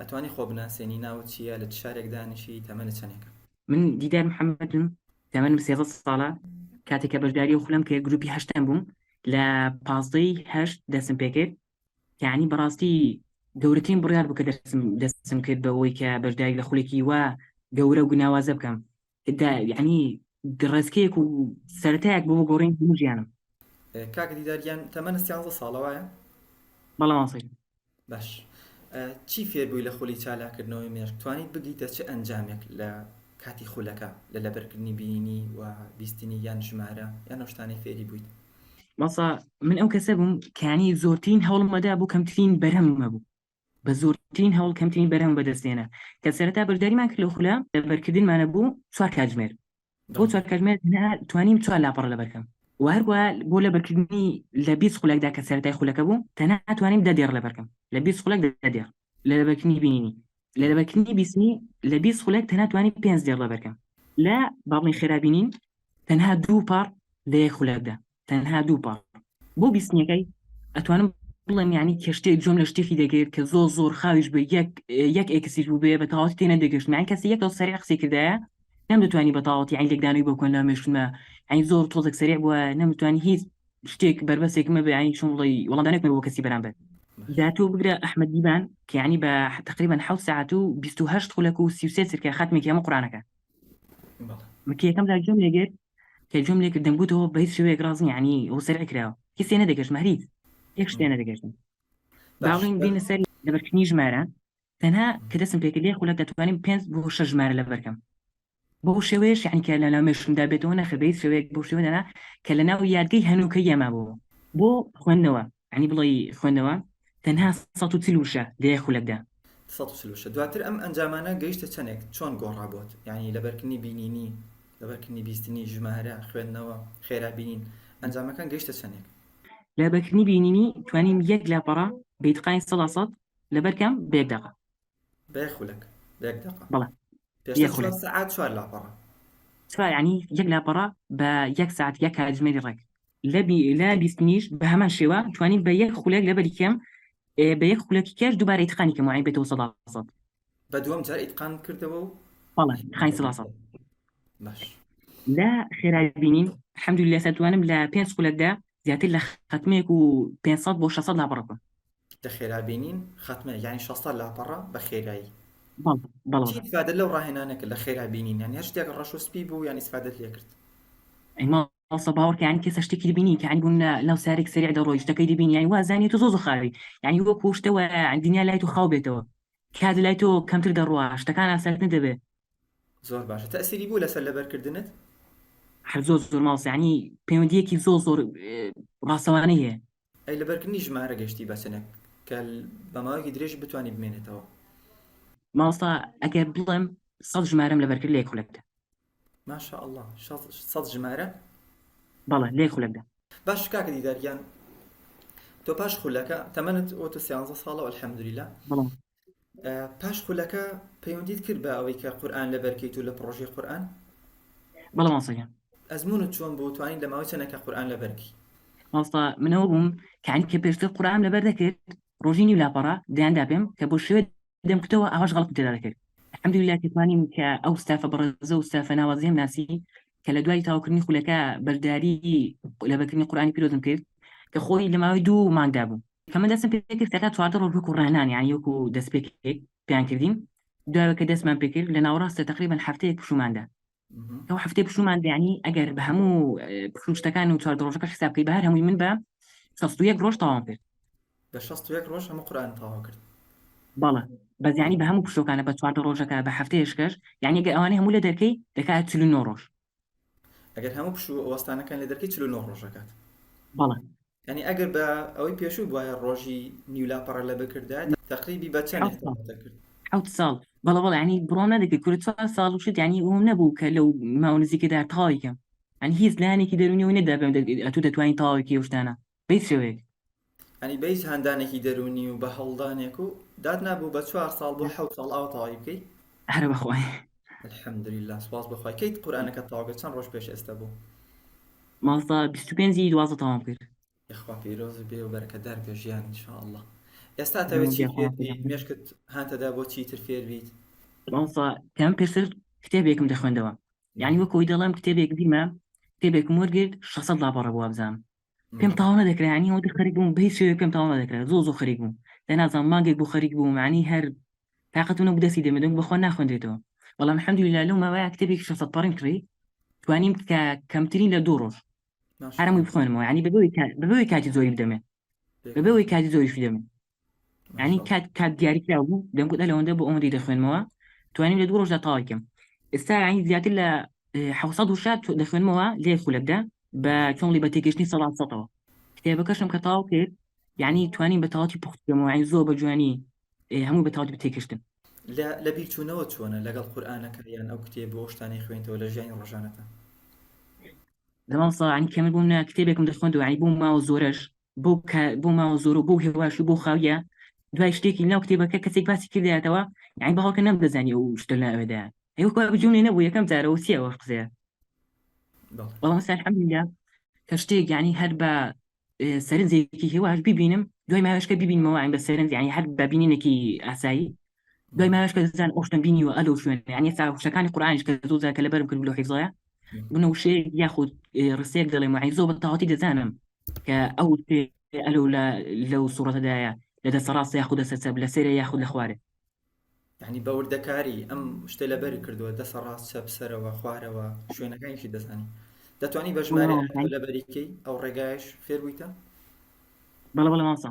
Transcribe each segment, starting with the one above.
ئەتوانی خۆ بناسێنی ناوت چیە لە چ شارێک دانیشی تەمەنت چەنێکە. من دیدار محمدم تەمەنم سێزەد ساڵە کاتێک کە بەشداری و خولم کرد گروپی هەشتم بووم لە پازدەی هەشت دەسم پێکرد یعنی بەڕاستی گەورەترین بڕیار بوو کە دەسم دەسم کرد بەوەی کە بەشداری لە خولێکی وا گەورە و گوناوازە بکەم یعنی گڕێسکەیەک و سەرەتایەک بۆ گۆڕین هەموو ژیانم کاک دیدارگیان تەمەنە سیانزە ساڵە وایە بەڵێ ماسی باش چی فێربووی لە خولی چالاکردنەوەی مێرک توانیت بگیتە چ ئەنجامێک لە کاتی خولەکە لە لەبەرکردنی بینی و بیستنی یان ژمارە یان نەشتانەی فێری بوویت مەسا من ئەو کەسە بووم کانی زۆرترین هەوڵمەدا بوو کەمترین بەرهەم مەبوو بە زۆرترین هەوڵ کەمترین بەرهەم بەدەستێنە کە سەرەتا بەشداریمان کرد لە خولە لەبەرکردنمانە بوو چوار کاتژمێر بۆ چوار کاتژمێر توانیم چوار لاپەڕە لەبەرکەم و هەروە بۆ لەبەرکردنی لە بیست خولەکدا کە سەرەتای خولەکە بوو تەنها توانیم دە دێڕ لەبەرکەم لە بیست خولەک دە دێڕ لە لەبەرکردنی بینینی لە لەبەرکردنی بیستنی لە بیست خولەک تەنها توانیم پێنج دێڕ لەبەرکەم لە باڵی خێرا بینین تەنها دوو پاڕ لە یەک خولەکدا تەنها دوو پاڕ بۆ بیستنیەکەی ئەتوانم بڵێم یعنی کەشتێک جۆم لە شتێکی دەگرت کە زۆر زۆر خاویش بە یەک یەک ئێکسیش بوو بێ بە تەواوەتی تێ نەدەگەشت یان کەسی یەکەوە سەریع قسەی کردایە نەمدەتوانی بە تەواوەتی یان لێکدانەوەی بۆ کۆن لە مێشتمە یعنی زۆر تۆزێک سەریع بووە نەمتوانی هیچ شتێک بەربەسێک مەبێ یعنی چۆن بڵێ وەڵامدانێک مەبێ بۆ کەسی بەرامبەر جا تۆ بگرە ئەحمەد دیبان کە یعنی بە تقریبا حەوت ساعت و 28 خولەک و 33 چرکە خاتمێکی هەموو قورانەکە من کە یەکەم جار گوێم لێ گرت کە گوێم لێ کرد دەمگوتەوە بە هیچ شێوەیەک ڕاست نییە یانی ئەوە سەرقە کراوە هیچ تێ نەدەگەشتم هەر هیچ یەک شت تێ نەدەگەشتم با باش بڵێین دێینە سەر لەبەرکردنی ژمارە تەنها کە دەستم پێ کرد لێ خولەک دەتوانین پێنج بۆ شەش ژمارە لەبەر کەم بەو شێوەیەش یانی کە لە ناو مێشکمدا بێتەوە نەخێ بە هیچ شێوەیەک بەو شێوەیە دەنا کە لەناو یادگەی هەنووکەییە مابەوە بۆ خوێندنەوە یعنی بڵێی خوێندنەوە تەنها سەد و چل وشە لە یەک خولەکدا. سەد و چل وشە. دواتر ئەم ئەنجامانە گەیشتە چەندێک؟ چۆن گۆڕا بۆت؟ یانی لەبەرکردنی بینینی، لەبەرکردنی بیستنی، ژمارە، خوێندنەوە، خێرا بینین، ئەنجامەکان گەیشتە چەندێک؟ لەبەرکردنی بینینی توانیم یەک لاپەڕە بە ئیتقانی سەدا سەد لەبەر کەم بە یەک دەقە. بێ خولەک بێک دەقە بەڵێ پێشتر چوار سەعات چوار لاپەڕە چوار یعنی یەک لاپەڕە بە یەک سەعات یەک کاتژمێری ڕێک لە لە بیستنیش بە هەمان شێوە توانین بە یەک خولەک لەبەری کێم بە یەک خولەکی کێش دووبارە ئیتقانی کەم وعی بێتەوە سەدا سەد بە دووەم جار ئیتقان کردەوە و بەڵێ خانی سەدا سەد باش لە خێرای بینین حەمدو لە سەتوانم لە پێنج خولەکدا زیاتر لە خەتمێک و 500 بۆ 600 لاپەڕەکە لە خێرا بینین خاتمە یانی شەستە لاپەڕە بە خێرایی بەڵێ چی ئیسفادە لەو ڕاهێنانە کرد لە خێرا بینین یانی هەر شتێک ڕەش و سپی بوو یانی ئیسفادەت لێ کرد ئەی ما ئەوسە باوەڕ کە یانی کەسە شتێکی بینی کە یانی بوون لە لەو سارێک سریع دەڕۆی شتەکەی دەبینی یانی وا زانی تۆ زۆر زۆر خاوی یانی وەکوو شتە وایە یانی دنیا لای تۆ خاو بێتەوە کات لای تۆ کەمتر دەڕوا شتەکان ئاسانتر دەبێت زۆر باشە تەئسیری بوو لەسەر لەبەرکردنت هەر زۆر زۆر ماوس یانی پەیوەندییەکی زۆر زۆر ڕاستەوانەی هەیە ئەی لەبەر کردنی ژمارە گەشتی بە چنک کە بە ماوەیەکی درێژ بتوانی بمێنێتەوە؟ مامۆستا ئەگەر بڵێم سەد ژمارەم لەبەر کرد لە یەک خولەکدا. ما شاء اللە سەد ژمارە؟ بەڵێ لە یەک خولەکدا. باشە کاکە دیدار گیان تۆ پاش خولەکە تەمەنت وتت سیانزە ساڵە الحمدللە بەڵێ پاش خولەکە پەیوەندیت کرد بە ئەوەی کە قورئان لەبەرکەیت و لە پڕۆژەی قورئان بەڵێ مامۆستاگیان ئەزمونت چۆن بوو توانین لە ماوەی چەنێکە قورئان لەبەرکی مامۆستا منەوە بووم کانی کە پێشتر قورئان لەبەر دەکرد ڕۆژی نیو لاپەڕە دەیاندا پێم کە بۆ شوێ دەم کتەوە ئاواش غەڵەتم تێدا دەکرد الحمد لله کە توانیم کە ئەو ستافە بەڕێزە و ستافە ناوازەیەم ناسی کە لە دوای تاوکردنی خولەکە بەشداری لەبەرکردنی قورئانی پیرۆزم کرد کە خۆی لە ماوەی دوو مانگدا بوو کە من دەستم پێکرد کە تا چواردە ڕۆژ وەکو ڕانان یانی وەکو دەست پێکێک پێیان کردین دوای کە دەستمان پێکرد لە ناوەڕاستە تقریبا هەفتەیەک پشوماندا ئەو هەفتەی پشومان دەیانی ئەگەر بە هەموو پشوشتەکان و چواردە ڕۆژەکە حساب بکەی بە هەر هەمووی من بە شەست و یەک ڕۆژ تەواوم کرد بە شەست و یەک ڕۆژ هەموو قورئان تەواو کرد بەڵێ بەس یانی بە هەموو پشتەکانە بە چواردە ڕۆژەکە بە هەفتەیەشکەش یانی گەر ئەوانەی هەموو لە دەرکەی دەکات چل و نۆ ڕۆژ ئەگەر هەموو پشوو وەستانەکان لە دەرکی چلو نۆ ڕۆژەکات بەڵێ ینی ئەگەر بە ئەوەی پێشوو بواە ڕۆژی نیولاپەڕە لە بکردا تقریبی بە چەند حوت ساڵ بەڵە بەڵانی بڕۆ نەدەکە کورە چوار ساڵ وشت ینی ئەوم نەبوو کە لەو ماونزیکەدا تاویکەم ئەن هیچ لایەنێکی دەرونی و نەدا بێم ئەتو دەتوانین تاویکی وشتانە بەیس شێوەیەک. یانی بەیس هاندانێکی دەروونی و بە هەوڵدانێک و داتنا بوو بە چوار ساڵ بۆ حەوت ساڵ ئاوا تەواوی بکەی؟ هەر بەخوای. الحمدللە سوپاس بۆ خوای کەیت قورئانەکەت تەواو کرد چەند ڕۆژ پێش ئێستە بوو؟ مامۆستا بیست و پێنج ی دوازدە تەواوم کرد. یەخوا پیرۆز بێ و بەرەکەتدار بێ ژیان ان شاء اللە ئێستا ئەتەوێت چی فێر بیت مێشکت هانتەدا بۆ چیتر فێر بیت؟ مامۆستا کە من پێشتر کتێبێکم دەخوێندەوە یانی وەک وەی دەڵێم کتێبێک دیمە کتێبێکم وەرگرت شەست سەد لاپەڕە بوو وابزانم پێم تاو نەدەکرا ینی ئەوەندە خەریک بووم بە هیچ شێوەیەک پێم تاو نەدەکرا زۆر زۆر خەریک بووم دە نازانم مانگێک بۆ خەریک بووم ینی هەر تااقەتم نەبوو دەستی دەمێ دەنگ بەخوا ناخوێندرێتەوە بەڵام الحمدللە لەو ماوەیە کتێبێکی 600 پەڕیم کڕی توانیم کە کەمترین لە دوو ڕۆژ ماشاء هەرمووی الله بخوێنمەوە ینی بەبەوەی کا- بەبەوەی کاتی زۆری بدەمێ بەبەوەی کاتی زۆریش بدەمێ ینی کات کات دیاریکرا بوو دەمگوت لەوەندە بۆ ئەوەندەی دەخوێنمەوە توانیم لە دوو ڕۆژدا تاواکەم ئێستا ینی زیاتر لە حوسە دوشات دەخوێنمەوە لێ خولەکدا بە چۆنڵی بە تێگەشتنی سەڵات سەەوە کتێبەکەشم کە تاو کرد یعنی توانین بە تاواتی پختەوە زۆر بە جوانی هەموو بە تاوت بتێکشتن لە بیرچوونەوە چۆنە لەگەڵ قورآانەکە یان ئەو کتێب بۆ شتانی خوێنتەوە لە ژیانی ڕۆژانەکە دەمام ساعانی کەمە بووم نە کتێبێکم دەخوندوانی بووم ماوە زۆرەش بۆ بۆ ماوە زۆر و بۆ هێواش و بۆ خاویە دوای شتێکی ناو کتێبەکە کەسێک باسی کردایەتەوە یعنی بەهاکە نەم دەزانانی و شتە لاوێدا هێوکە بجوونێ نەبوو یەکەم جارەوە چیە وەش قزێ بەڵام سەرحەمدا کە شتێک یعنی هەر بە سەرنجێکی هێواش ببینم دوای ماوەشکە ببینمەوە عین بە سەرنج یعنی هەر بە بینینێکی ئاسایی دوای ماوەیەش کە زان ئەو شتەم بینیوە ئەلە و شوێنە یعنی ئێستا وشەکانی قورئانیش کە زۆر جار کە لەبەرم کردم لەو حیفزەیە بنە وشەیەک یاخود ئێ، ڕستەیەک دەڵێم یعنی زۆر بە تەواوەتی دەزانم کە ئەو شتێ ئەلە و لە لەو سوڕەتەدایە لە دەستە ڕاستە یاخود دەستە چەپ لە سەرە یاخود لە خوارێ یعنی بە وردەکاری ئەم شتە لەبەر کردووە دەسە ڕاست چەپ سەرەوە خوارەوە شوێنەکانیشی دەزانی دەتوانی بە ژمارە وڵاوەکانی لەبەریکەی ئەو ڕێگایش فێر بوویتە بەڵە بەڵە مامسا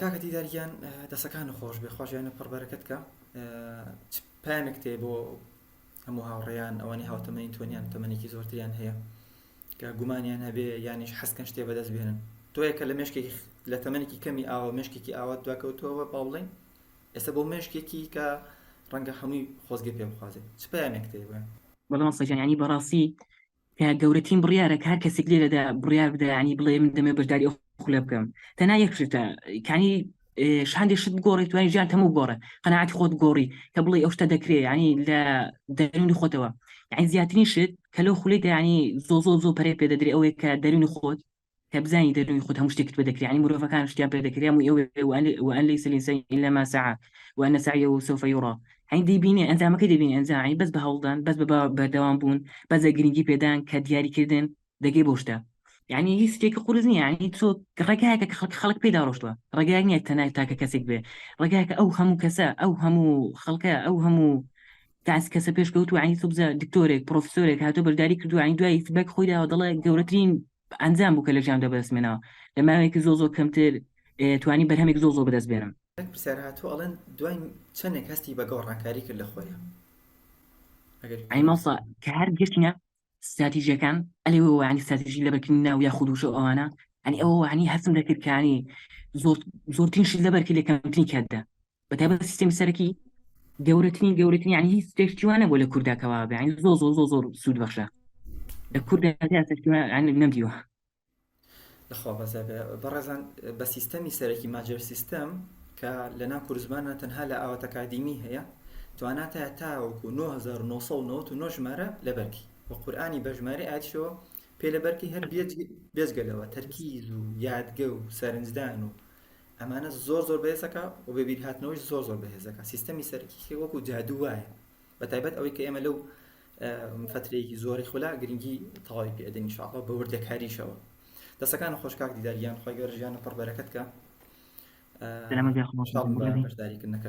کاکە دیدار گیان دەسەکان خۆش بێ خۆشیانە پڕ بەرەکەت کە پامێک تێ بۆ هەموو هاوڕێیان ئەوانی هاوتەمەین تۆنیان تەمەێکی زۆرتریان هەیە کە گومانیان هەبێ یانیش حەسکەن شتێ بەدەست بێنن تۆیەکە لە مشکێکی لە تەمەێکی کەمی ئاوە مشکێکی ئاوا دواکەوتەوە باڵین ئێستا بۆ مشکێکی کە ڕەنگە هەمووی خۆزگە پێ بخوازێت چ پامێک تێ بڵێ بەڵام سەجانانی بەڕاستی کە گەورەترین بڕیارە کە هەر کەسێک لێرەدا بڕیار بدە ینی بڵێ من دەمێ بەشداری ئەو خولە بکەم تەنا یەک شتە کانی شاندی شت گۆڕی توانانی ژیان تەموو گۆڕە قەنەعاتی خۆت گۆڕی کە بڵێ ئەو شتە دەکرێ ینی لە دەرونی خۆتەوە یعنی زیاترین شت کە لەو خولی دەیانی زۆ زۆ زۆ پەرێ پێ دەدرێ ئەوەیە کە دەرونی خۆت کە بزانی دەروی خود هەموو شتێکت پێ دەکرێ یانی مرۆڤەکان شتیان پێ دەکرێ هەمووی ئەوێ وئەن وئەن لەیس الانسان الا ما سعی وان سعیه سوف یری هەین دەیبینێ ئەنجامەکەی دەبینێ ئەنجا هەین بەس بە هەوڵدان بەس بە بەردەوام بوون بەس بە گرنگی پێدان کە دیاریکردن دەگەی بەو شتە یعنی هیچ شتێکی قورس نییە یعنی تۆ ڕێگایەکە کە خەڵک خەڵک پێدا ڕۆشتووە ڕێگایەک نییە تەنای تاکە کەسێک بێ ڕێگایەکە ئەو هەموو کەسە ئەو هەموو خەڵکە ئەو هەموو کاس کەسە پێش کەوت و عین سوبزە دکتۆرێک پرۆفسۆرێک هاتۆ بەرداری کردو عین دوای فیدباک خۆی داوە دەڵێ گەورەترین ئەنجام بوو کە لە ژیاندا بەدەست مێناوە لە ماوەیەکی زۆ زۆ کەمتر توانی بەرهەمێک زۆ زۆ بەدەست بێنم. یەک پرسیار هاتووە ئەڵێن دوای چەنێک هەستی بە گەوڕانکاری کرد لە خۆیا؟ ئەگەر. عین مامۆستا کە هەر گەشتینە ستراتیژەکان ئەلێ وانی ستراتیژی لەبەرکردنی ناو یا خودوش و ئەوانە ئەنی ئەوە وانی هەستم دەکردکانی زۆرترین شت لەبەرکی لە کەمترین کاتدا بە تایبەت سیستم سەرەکی گەورەترین گەورەترین ینی هیچ تێشتیوانە بۆ لە کورداکەوا بەین زۆ زۆ زۆ زۆر سوود بەخشە لە کورددا نەمدیوە لەخوا بەزای بێ بەڕێزان بە سیستەمی سەرەکی ماجر سیستەم کە لە ناو کوردزمانە تەنها لە ئاوات ئەکادیمی هەیە تواناتە تاوەکو 1999 ژمارە لە بەرکی و قورآانی بە ژمارە ئاچەوە پێ لە بەرکی هەر بێت بێزگەلەوە تەرکیز و یادگە و سەرنجدان و ئەمانە زۆر زۆر بەێزەکە و بەبییر هاتنەوەی زۆر زۆر بەهێزەکە سیستەمی سەرکی وەکو جادو وایە بە تایبەت ئەوەی کە ئێمە لەو فترەیەکی زۆری خولا گرنگی تەواوی پێ ئەدەین انشاءاللە بە وردەکاریشەوە دەسەکان خۆش کاک دیدار گیان خۆی گەورە ژیان پڕ بەرەکەت کە بەشداریکردنەکە